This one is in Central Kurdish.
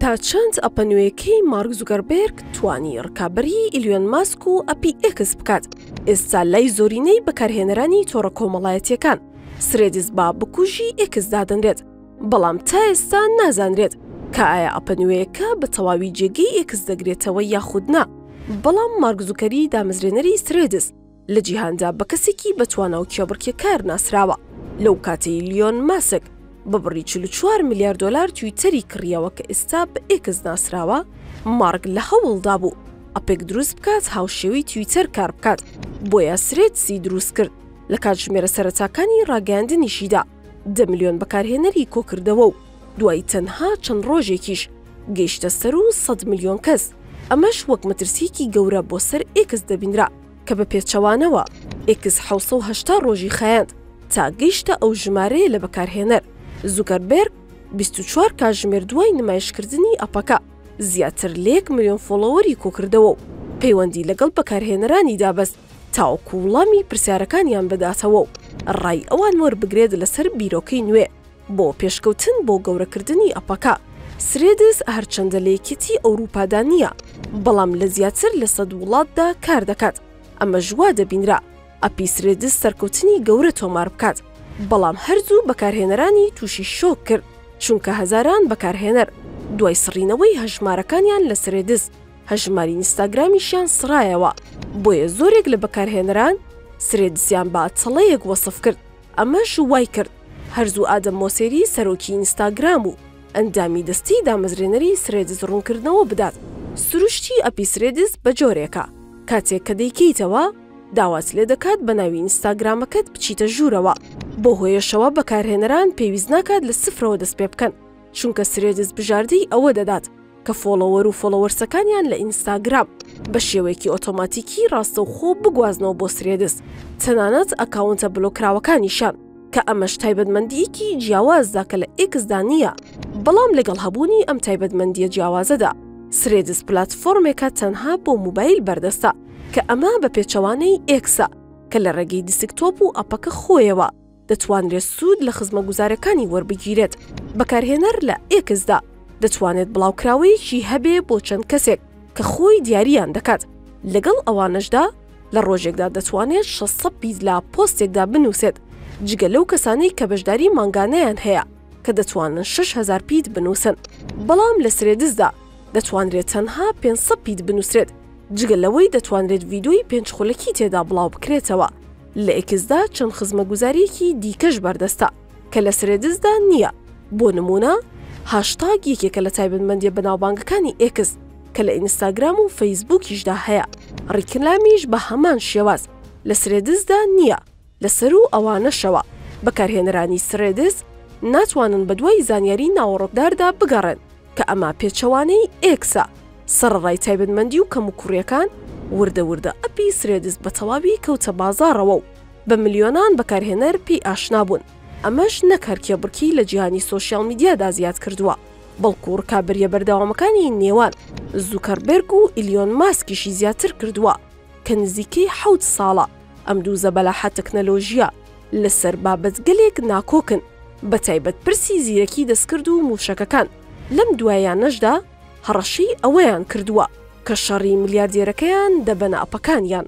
تا چەند ئەپە نوێیەکەی مارک زوگەربێرگ توانی ڕکابەری ئیلیۆن ماسک و ئەپی ئێکس بکات ئێستا لای زۆرینەی بەکارهێنەرانی تۆڕە کۆمەڵایەتیەکان سرێدیس با بکوژی ئێکس دادەنرێت بەڵام تا ئێستا نازانرێت کە ئایا ئەپە نوێیەکە بە تەواوی جێگەی ئێکس دەگرێتەوە یاخودنا بەڵام مارکزوکەری دامەزرێنەری سرێدس لە جیهاندا بە کەسێکی بەتوانا و کێبڕکێکار ناسراوە، لەو کاتەی ئیلیۆن ماسک بە بڕی چل و چوار ملیار دۆلار تویتەری کڕیەوە کە ئێستا بە ئێکس ناسراوە، مارک لە هەوڵدا بوو ئەپێک دروست بکات هاوشێوەی تویتەر کار بکات، بۆیە سرێدسی دروست کرد، لە کاتژمێرە سەرەتاکانی ڕاگەیاندنیشیدا دە ملیۆن بەکارهێنەری کۆکردەوە و دوای تەنها چەند ڕۆژێکیش گەیشتە سەروو سەد ملیۆن کەس، ئەمەش وەک مەترسییەکی گەورە بۆ سەر ئێکس دەبینرا. کە بە پێچەوانەوە ئێکس حەوت سەد و هەشتا ڕۆژی خایاند تا گەیشتە ئەو ژمارەیە لە بەکارهێنەر، زوکەربێرگ بیست و چوار کاژمێر دوای نمایشکردنی ئەپەکە، زیاتر لە یەک ملیۆن فۆڵۆوەری کۆکردەوە و پەیوەندی لەگەڵ بەکارهێنەرانیدا بەست تاوەکو وڵامی پرسیارەکانیان بداتەوە و ڕای ئەوان وەربگرێت لەسەر بیرۆکەی نوێ. بۆ پێشکەوتن بۆ گەورەکردنی ئەپەکە، سرێدز هەرچەندە لە یەکێتیی ئەورووپادا نییە، بەڵام لە زیاتر لە سەد وڵاتدا کار دەکات، ئەمەش وا دەبینرا ئەپی سرێدز سەرکەوتنی گەورە تۆمار بکات، بەڵام هەر زوو بەکارهێنەرانی تووشی شۆک کرد، چونکە هەزاران بەکارهێنەر دوای سڕینەوەی هەژمارەکانیان لە سرێدز، هەژماری ئینستاگرامیشیان سڕایەوە، بۆیە زۆرێک لە بەکارهێنەران سرێدزیان بە تەڵەیەک وەسف کرد. ئەمەش وایکرد هەر زوو ئادەم مۆسێری سەرۆکی ئینستاگرام و ئەندامی دەستەی دامەزرێنەری سرێدز ڕوونکردنەوە بدات، سروشتی ئەپی سرێدز بە جۆرێکە کاتێک کە دەیکەیتەوە داوات لێدەکات بە ناوی ئینستاگرامەکەت بچیتە ژوورەوە، بەو هۆیەشەوە بەکارهێنەران پێویست ناکات لە سفرەوە دەستپێبکەن. چونکە سرێدز بژاردەی ئەوە دەدات کە فۆڵۆوەر و فۆڵۆوەرسەکانیان لە ئینستاگرام بە شێوەیەکی ئۆتۆماتیکی ڕاستەوخۆ بگوازنەوە بۆ سرێدز تەنانەت ئەکاونتە بلۆکراوەکانیشان کە ئەمەش تایبەتمەندیەکی جیاوازدا کە لە ئێکسدا نییە بەڵام لەگەڵ هەبوونی ئەم تایبەتمەندیە جیاوازەدا سرێدز پلاتفۆرمێکە تەنها بۆ موبایل بەردەستە کە ئەمە بە پێچەوانەی ئێکسە کە لە ڕێگەی دیسکتۆپ و ئەپەکە خۆیەوە دەتوانرێت سوود لە خزمەگوزارەکانی وەربگیرێت. بەکارهێنەر لە X دا دەتوانێت بڵاوکراوەیەکی هەبێ بۆ چەند کەسێک کە خۆی دیارییان دەکات، لەگەڵ ئەوانەشدا لە ڕۆژێکدا دەتوانێت شەست سەد پیت لە پۆستێکدا بنووسێت، جگە لەو کەسانەی کە بەشداری مانگانەیان هەیە کە دەتوانن شەش هەزار پیت بنووسن. بەڵام لە Threads دا دەتوانرێت تەنها پێنج سەد پیت بنووسرێت، جگە لەوەی دەتوانرێت ڤیدۆی پێنج خولەکی تێدا بڵاوبکرێتەوە. لە ئێکسدا چەند خزمەگوزارییەکی دیکەش بەردەستە کە لە سرێدزدا نییە، بۆ نموونە هاشتاگ یەکێکە لە تایبەتمەندییە بەناوبانگەکانی ئێکس کە لە ئینستاگرام و فەیسبووکیشدا هەیە، ڕیکلامیش بە هەمان شێواز لە سرێدزدا نییە، لە سەروو ئەوانەشەوە بەکارهێنەرانی سرێدز ناتوانن بەدوای زانیاری ناوەڕۆکداردا بگەڕێن. کە ئەمە پێچەوانەی ئێکسە، سەڕەڕای تایبەتمەندی و کەموکوڕیەکان، وردە وردە ئەپی سرێدز بەتەواوی کەوتە بازاڕەوە و بە ملیۆنان بەکارهێنەر پێی ئاشنا بوون، ئەمەش نەک هەر کێبڕکێی لە جیهانی سۆشیاڵ میدیادا زیاد کردووە، بەڵکو ڕکابەریە بەردەوامەکانی نێوان زوکەربێرگ و ئیلیۆن ماسکیشی زیاتر کردووە کە نزیکەی حەوت ساڵە. ئەم دوو زەبەلاحە تەکنەلۆژییە لەسەر بابەتگەلێک ناکۆکن، بەتایبەت پرسی زیرەکی دەستکرد و مووشەکەکان، لەم دواییانەشدا هەڕەشەی ئەوەیان کردووە کە شەڕی ملیاردێرەکەیان دەبەنە ئەپەکانیان.